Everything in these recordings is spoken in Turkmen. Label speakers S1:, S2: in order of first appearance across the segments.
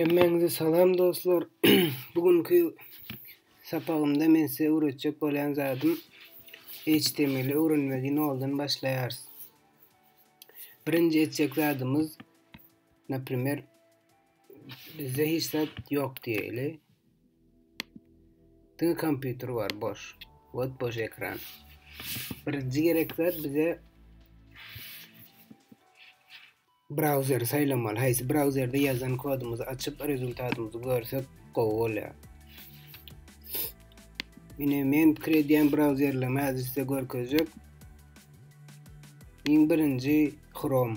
S1: Hemmäňize salam dostlar. Bu günki sapagymda men size öwretjek bolýan zadym HTML öwrenmegi noldan başlaýarys. Birinji etjek zadymyz, naprimer, Bizde hiç zat ýok diýeli. Diňe kompýuter bar boş. Wot boş ekran. Birinji gerek zat bize brauzeri saýlamaly. Haýsy brauzerde ýazan kodumyzy açyp rezultatymyzy görsek gowy bolýar. Ine men pikir edýän brauzerlerimi häzir size görkezjek. Iň birinji Chrome.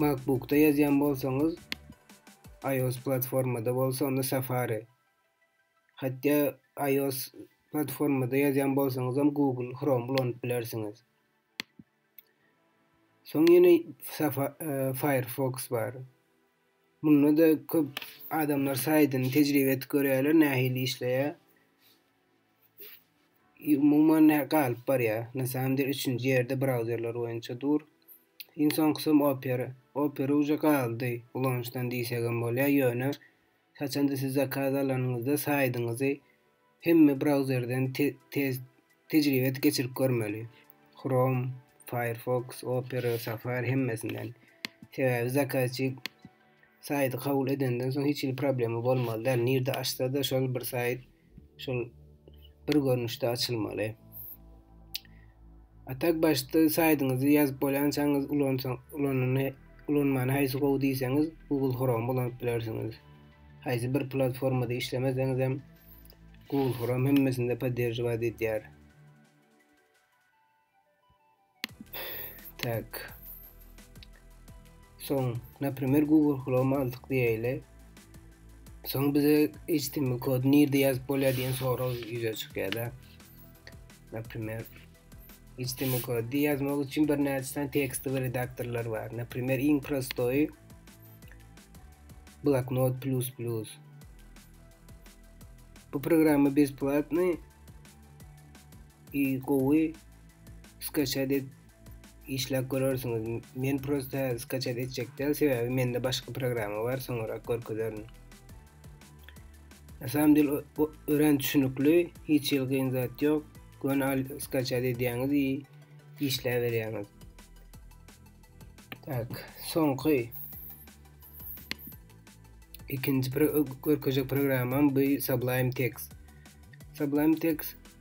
S1: MacBookda ýazýan bolsaňyz, iOS platformada bolsa onda Safari. Hatda iOS platformada ýazýan bolsaňyz hem Google Chrome ulanyp bilersiňiz. Soň ýene e, Firefox bar. Munda da köp adamlar saýdyny tejribe etip görýärler, nähili işleýär. Umuman nä galyp barýar? Na samym dele üçünji ýerde brauzerler boýunça dur. Iň soňkusym Opera. Opera uje galdy ulanyşdan diýsegem bolýar, ýöne haçanda siz zakaz alanyňyzda saýdyňyzy hemme brauzerden tez tejribe geçirip görmeli. Chrome, Firefox, Opera, Safari hemmesinden. Sebäbi zakazçy saýty kabul edenden soň hiç hili problema bolmaly däl. Nirde açsa-da şol bir saýt şol bir görnüşde açylmaly. Atak başda saýdyňyzy ýazyp bolýançaňyz ulansaň, ulanyny ulanmany haýsy gowy diýseňiz, Google Chrome ulanyp bilersiňiz. Haýsy bir platformada işlemeseňiz hem Google Chrome hemmesinde podderjiwat edýär. Tak. Soň, naprimer, Google Chrome aldyk diýeýle. Soň bize HTML kod nirde ýazyp bolýar diýen sorag ýüze çykýar-da. Naprimer, HTML kod ýazmak üçin bir näçe tekst we redaktorlar bar. Naprimer, iň prostoýy Bloknot plus plus. Bu programma besplatny. I gowy skachat et işläp görersiňiz men prosta häzir skachat etjek däl sebäbi mende başga programma bar soňurak görkezerin na samym del örän düşünükli hiç ýyl gyn zat ýok göni al skachat edýäňiz i işläp berýäňiz tak soňky ikinji görkezjek programmam bu sublime text sublime text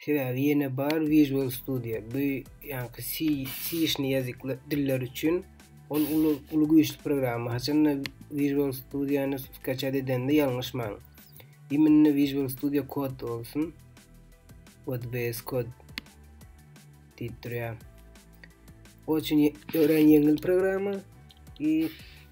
S1: Sebäbi ýene bar Visual Studio. Bu ýaňky C, C-işni ýazyk diller üçin ol uly, uly güýçli programma. Haçanda Visual Studio-ny skaçat edende ýalňyşmaň. Iminne Visual Studio Code bolsun. WordPress Code diýip durýar. O üçin örän ýeňil programma. I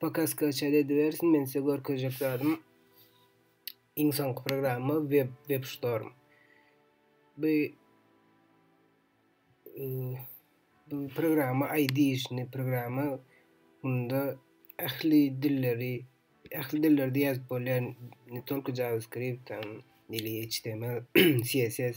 S1: Pakas kaçar edibersin men size görkezjek zadım iň soňky programma web web storm. Bu e, bu programma ID işini programma bunda ähli dilleri ähli dillerde ýazyp bolýan ne tolku JavaScript, nili HTML, CSS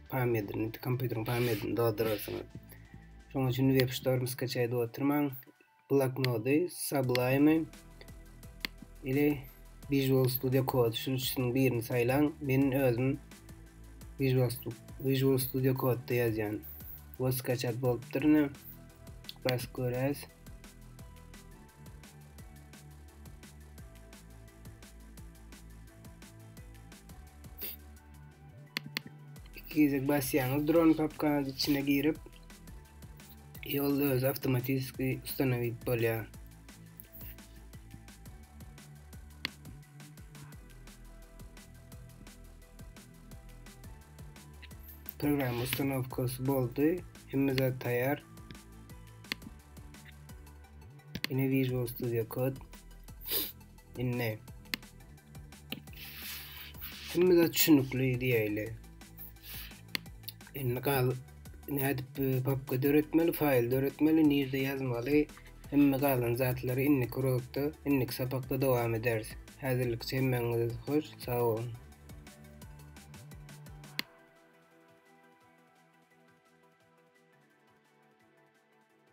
S1: pamýadini, kompýuteriň pamýadini doldurarsyňyz. Şoň üçin web storm skaçaý edip oturmaň. Bloknody, Sublime ile Visual Studio Code şu üçüniň birini saýlaň. Men özüm Visual Studio Visual Studio Code-da ýazýan. Bu skaçat bolupdyr ne? Bas göräs. iki gezek basýaňyz dron papka içine girip ýolda öz avtomatizki ustanowit bolýar program ustanowkasy boldy hemme zat taýýar ine visual studio code Indi Kimmize düşünükli diýäýli. Indi gal nädip e, papka döretmeli, faýl döretmeli, nirde ýazmaly, hemme galan zatlary indiki urugda, indiki sapakda dowam ederis. Häzirlik hemmäňiz hoş, sag bolun.